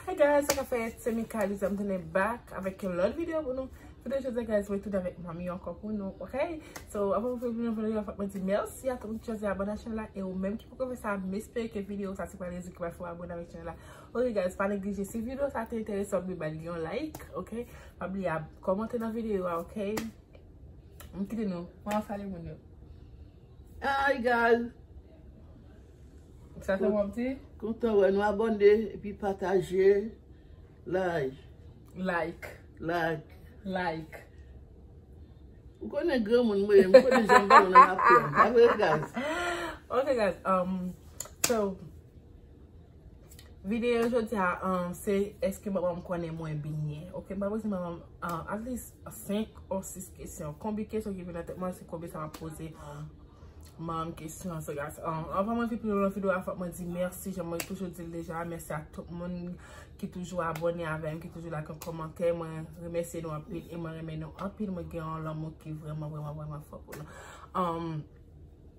Hi guys, sa ka fè se Mika li zèm tounen back avèk yon lòt video pou nou. Videyo jodi guys, mwen tounen avèk manmi yo ankò pou nou, ok? So, avan mwen fè yon video yo, fòk mwen di mèsi a tout moun ki chwazi abòne ak chanèl la e ou menm ki poko fè sa, m espere ke videyo sa se pa rezon ki pral fè w abòne avèk chanèl la. Ok guys, pa neglije si videyo sa te enterese w, bay li yon like, ok? Pa bliye kòmante nan videyo a, ok? M kite nou, mwen al salye moun yo. Hi guys. Sa fè wap di? Kontan wè nou abone epi pataje. Like. Like. Like. Like. Ou konnen gran moun mwen, mwen konnen jan mwen mwen nan apren. Abre guys. Ok guys, um, so. Videyo jodi a se eske manman m konnen mwen byen. Ok m pral poze manman m at least 5 or 6 kesyon. Konbe kesyon ki vin nan tèt mwen se konbe sa map poze manman m kesyon. So guys anvan mwen pi pi lwen nan videyo a fòk mwen di mèsi jan mwen toujou di l deja. Mèsi ak tout moun ki toujou abone avè m, ki toujou lage yon kòmantè. Mwen remèsye nou anpil e mwen renmen nou anpil. Mwen gen yon lanmou ki vreman vreman vreman fò pou nou.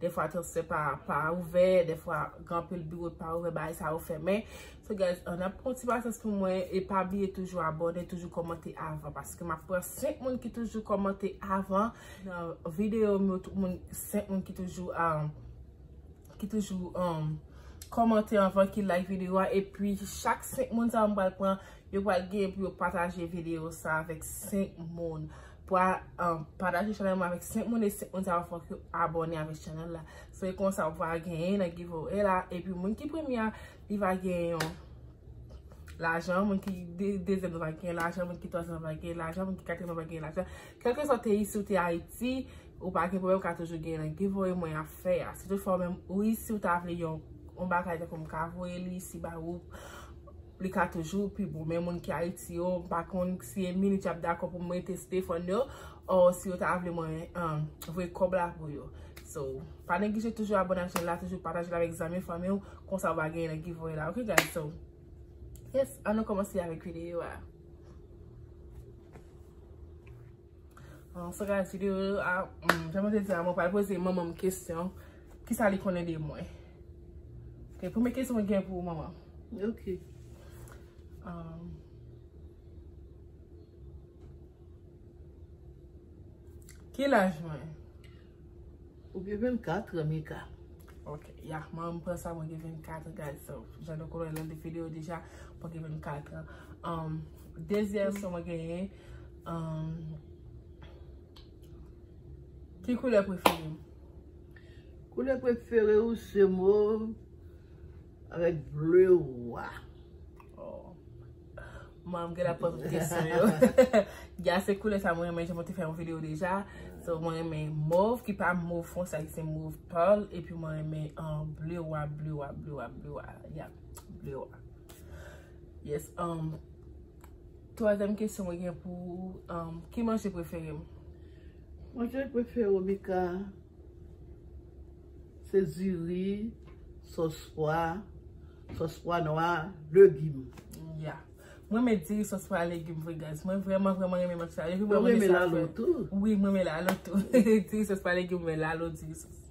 Defwa transfè pa pa ouvè, defwa gen anpil biwo ki pa ouvè, bagay sa yo fèmen. So guys, an ap pran ti pasyans pou mwen e pa bliye toujou abòne, toujou kòmante avan paske m ap pran 5 moun ki toujou kòmante avan nan videyo m yo, tout moun 5 moun ki toujou ki toujou kòmante avan, ki like videyo a epi chak 5 moun sa yo m pral pran Yo pral gen pou yo pataje video sa avèk 5 moun. Pral pataje chanèl mwen avèk 5 moun e 5 moun sa yo fòk yo abòne avèk chanèl la. Se konsa ou pral genyen nan giveaway la. E pi moun ki premye a, li va genyen yon lajan. Moun ki dezyèm nan va genyen lajan. Moun ki twazyèm nan va genyen lajan. Moun ki katriyèm nan va genyen lajan. Kèlke swa ou te isi ou te Ayiti, ou pa gen pwoblèm ou ka toujou genyen nan giveaway mwen ap fè a. Si tout fwa ou menm ou isi ou ta vle yon bagay tankou m ka voye li isi ba ou. li ka toujou pi bon men moun ki Ayiti yo m pa konn si e minit y ap dakò pou m rete Stephan yo or si yo ta vle mwen voye kòb la pou yo so pa neglije toujou abone ak chanèl la toujou pataje l avèk zanmi fanmi w konsa w va genyen nan giveaway la ok guys so yes an nou kòmanse avèk videyo a. An se ka di yo a, jan mwen te di a, mwen pral poze manman m kesyon, ki sa li konnen de mwen. Ok, premye kesyon mwen gen pou ou manman. Ok. Ki laj mwen? Ou gen 24 an Mika. Ok, ya, manman m pran sa mwen gen 24 an guys, so jan nou konnen nan 2 videyo deja, mwen gen 24 an. Dezyèm kesyon mwen genyen. Ki koulè prefere ou? Koulè prefere ou se mov avèk ble wa. Mwen mwen gen la pwant mwen kesyon yo. Gya se koulè sa mwen mwen jen mwen te fè yon video deja. So mwen mwen mwen mov ki pa mov fon sa ki se mov pal. E pi mwen mwen mwen ble wa, ble wa, ble wa, ble wa. Ya, ble wa. Yes, anm. Twazyèm kesyon mwen gen pou ou, ki manje prefere m? Manje prefere w Mika se diri, sòs pwa, sòs pwa nwa, legim. Ya. M renmen diri, sòs pwa, legim vre guys. Mwen vrèman vrèman renmen manje sa yo. Ou renmen lalo tou? Wi, m renmen lalo tou. Diri, sòs pwa, legim, mwen lalo, diri, sòs.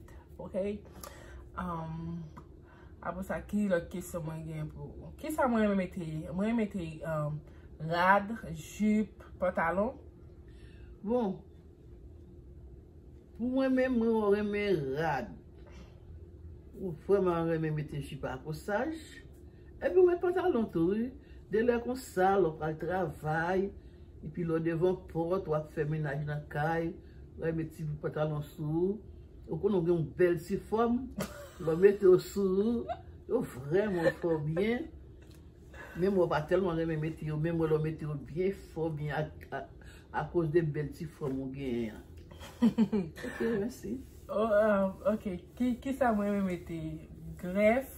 Ok Apre sa ki lòt kesyon mwen gen pou ou? Ki sa mwen renmen mete? Mwen renmen mete rad, jip, pantalon Bon Pou mwen menm mwen renmen rad Mwen vreman renmen mete jip a kosaj Epi ou met pantalon tou wi, de lè konsa lè w pral travay, epi lè w devan pòt wap fè menaj nan kay, wè met ti bout pantalon sou ou, ou konnen w gen yon bèl ti fòm, lè w mete yo sou ou, yo vrèman fè w byen, menm mwen pa tèlman renmen mete yo, men mwen lè w mete yo byen fè w byen akoz de bèl ti fòm ou genyen an. Ok mèsi. Ok, kisa mwen renmen mete? Grèf?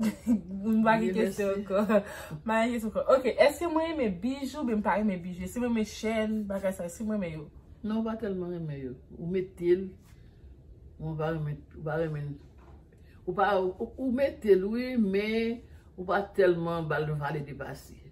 M pa gen kesyon anko. M pa gen kesyon anko. Ok, eske mwen renmen bije oubyen m pa renmen bije? Si mwen renmen chèn, bagay sa yo, si mwen renmen yo? Non, ou pa tèlman renmen yo. Ou mete l, men ou pa renmen, ou pa renmen l. Ou pa, ou mete l wi, men ou pa tèlman ba l vale depase.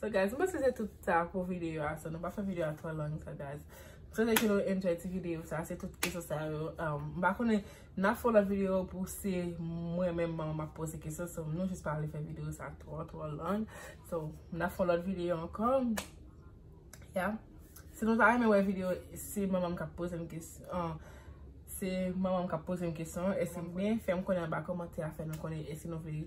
So guys, m panse se tout sa pou video a, so nou pa fè video a twò long sa guys. M swete ke nou enjoy ti video sa, se tout kesyon sa yo. M pa konnen, n ap fè yon lòt video pou se mwen menm m ap poze kesyon, so nou jis pa vle fè video sa twò twò long. So, n ap fè yon lòt video ankò. Ya. Si nou ta renmen wè video, se manman m k ap poze m kesyon, se manman m k ap poze m kesyon, e se mwen fè m konnen anba kòmantè a fè nou konnen e si nou vle.